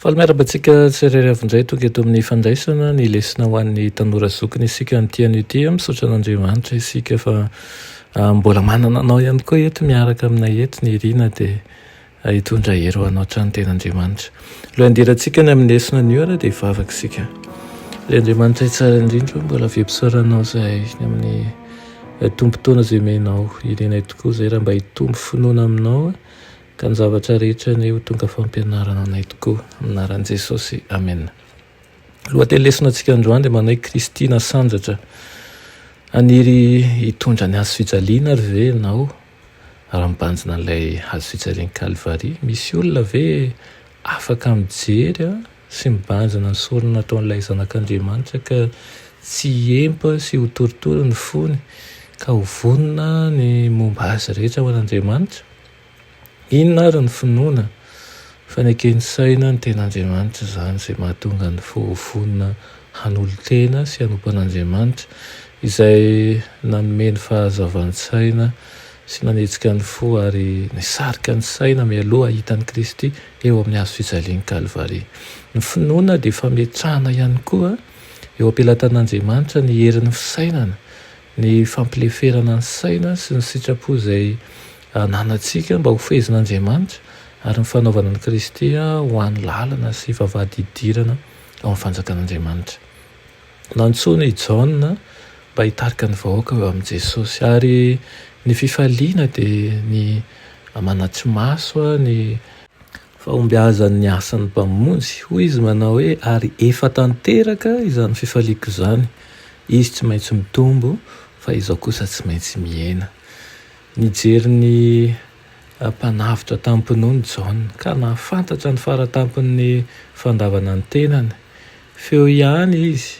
Faly miarahaba antsika tsirairay avy indray tonga eto amin'ny fandraisana ny lesona ho an'ny tanora zokiny isika amin'ity anio ity. Misaotra an'Andriamanitra isika fa ah, mbola manana anao ihany koa eto miaraka aminay eto ny irina dia ah, hitondra hery ho anao hatrany tena Andriamanitra. Alohan'ny handirantsika ny amin'ny lesona anio ary dia hivavaka isika. Ry Andriamanitra tsara indrindra o, mbola vempisaoranao izay ny amin'ny eh, tombon-taona izay omenao. Irinay tokoa izay raha mba hitombo finoana aminao. Ka ny zavatra rehetra anie ho tonga fampianarana anay tokoa Anaran'i Jesosy Amen Lohateny lesonantsika androany dia manao hoe Kristy nasandratra Haniry hitondra ny hazo fijaliana ary ve ianao raha mibanjina an'ilay hazo fijalian'i Kalvary? Misy olona ve afaka mijery sy mibanjina ny sorona nataon'ilay Zanak'Andriamanitra ka tsy hiempa sy ho torotoro ny fony ka ho vonona ny momba azy rehetra ho an'Andriamanitra? Inona ary ny finoana? Faneken'ny saina ny ten'Andriamanitra izany, izay mahatonga ny fo ho vonona hanolo-tena sy hanompo an'Andriamanitra, izay nanome ny fahazavan-tsaina sy nanetsika ny fo ary nisarika ny saina mialoha hahita an'i Kristy eo amin'ny hazo fijalian'i Kalvary. Ny finoana dia fametrahana ihany koa eo am-pelatan'Andriamanitra ny herin'ny fisainana, Ny fampileferana ny saina sy ny sitrapo izay ananantsika mba hofehezin'Andriamanitra ary ny fanaovana an'i Kristy ho hany lalana sy vavahady hidirana ao amin'ny fanjakan'Andriamanitra. Nantsoina i Jaona mba hitarika ny vahoaka ho eo amin'i Jesosy, ary ny fifaliana dia ny manatri-maso ny. Fahombiazan' ny asan' ny Mpamonjy. Hoy izy manao hoe, Ary efa tanteraka izany fifaliako izany. Izy tsy maintsy mitombo, fa izao kosa tsy maintsy mihena. Nijery ny Mpanavotra tamim-pinoana i Jaona, ka nahafantatra ny faratampon' ny fandavana ny tenany. Feo ihany izy,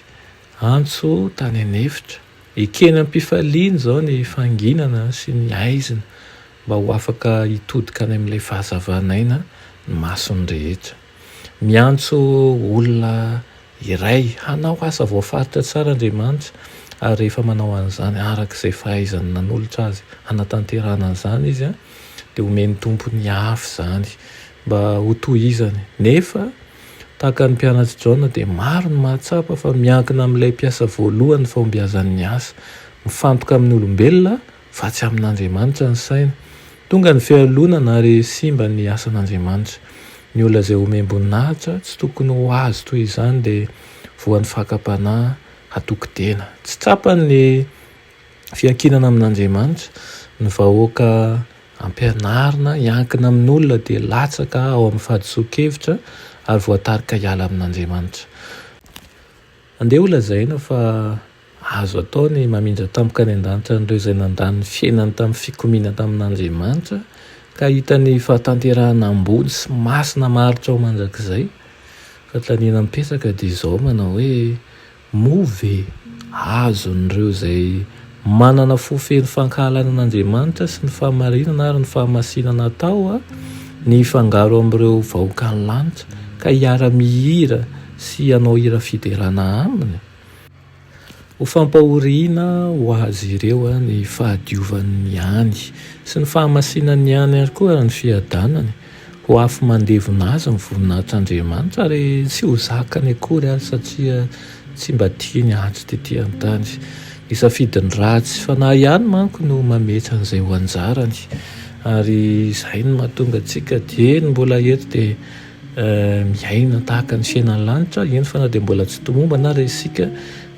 antso tany an' efitra. Ekeny am-pifaliana izao ny fanginana sy ny haizina. mba ho afaka hitodika any amin'ilay fahazavan'aina ny mason'ny rehetra. Miantso olona iray hanao asa voafaritra tsara Andriamanitra, ary rehefa manao an'izany araka izay fahaizany nanolotra azy hanatanterahana an'izany izy, dia homen'ny Tompo ny afo izany mba hotohizany. Nefa, tahaka ny mpianatr'i Jaona, dia maro ny mahatsapa fa miankina amin'ilay mpiasa voalohany ny fahombiazan'ny asa. Mifantoka amin'ny olombelona. Fa tsy amin'Andriamanitra ny saina. Tonga ny fialonana ary simba ny asan'Andriamanitra. Ny olona izay omem-boninahitra tsy tokony ho azy toy izany dia voan'ny fakam-panahy hatokon-tena. Tsy tsapany ny fiankinana amin'Andriamanitra. Ny vahoaka ampianarina hiankina amin'olona dia latsaka ao amin'ny fahadisoan-kevitra ary voatarika hiala amin'Andriamanitra. Andeha holazaina fa azo atao ny mamindra tampoka any an-danitra an'ireo izay nandany ny fiainany tamin'ny fikomiana tamin'Andriamanitra ka hahita ny fahatanterahana ambony sy masina maharitra ho mandrakizay. Fanontaniana mipetraka dia izao manao hoe, Moa ve azon'ireo izay Manana fo feno fankahalana an'Andriamanitra sy ny fahamarinana ary ny fahamasinana atao ny hifangaro amin'ireo vahoakan'ny lanitra ka hiara-mihira sy hanao hira fiderana aminy. Ho fampahoriana ho azy ireo ny fahadiovany ihany sy ny fahamasinany ihany ary koa ny fiadanany Ho afo mandevona azy ny voninahitr'Andriamanitra ary tsy ho zakany akory aza satria tsy mba tiany hatry tetỳ an-tany. Ny safidin'ny ratsy fanahy ihany manko no mametra an'izay ho anjarany. Ary izay no mahatonga antsika dieny mbola eto dia miaina tahaka ny fiainan'ny lanitra, eny fa na dia mbola tsy tomombana ary isika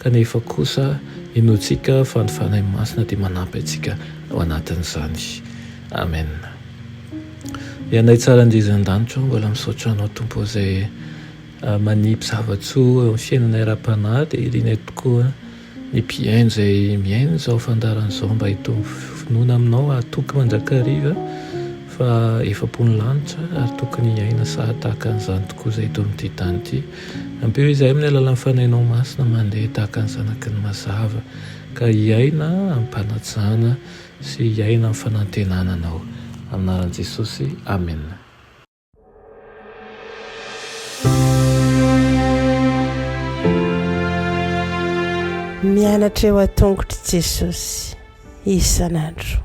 kanefa kosa inoantsika fa ny Fanahy Masina dia manampy antsika ao anatin'izany. Amena. Ry Anay tsara Anjezu an-danitra ao, mbola misaotra Anao Tompo izay manipy zava-tsoa eo amin'ny fiainanay ara-panahy, dia irinay tokoa ny mpihaino izay mihaino izao fandaharana izao mba hitombo finoana Aminao hahatoky mandrakariva fa efa-po ny lanitra ary tokony hiaina saha tahaka an'izany tokoa izay eto amin'ity tany ity. Ampio izahay amin'ny alalan'ny Fanahinao Masina mandeha tahaka ny zanaky ny mazava ka hiaina amim-panajana. Sy hiaina am fanantenana anao. Anaran Jesosy Amen. Mianatra eo an-tongotr'i Jesosy isan'andro.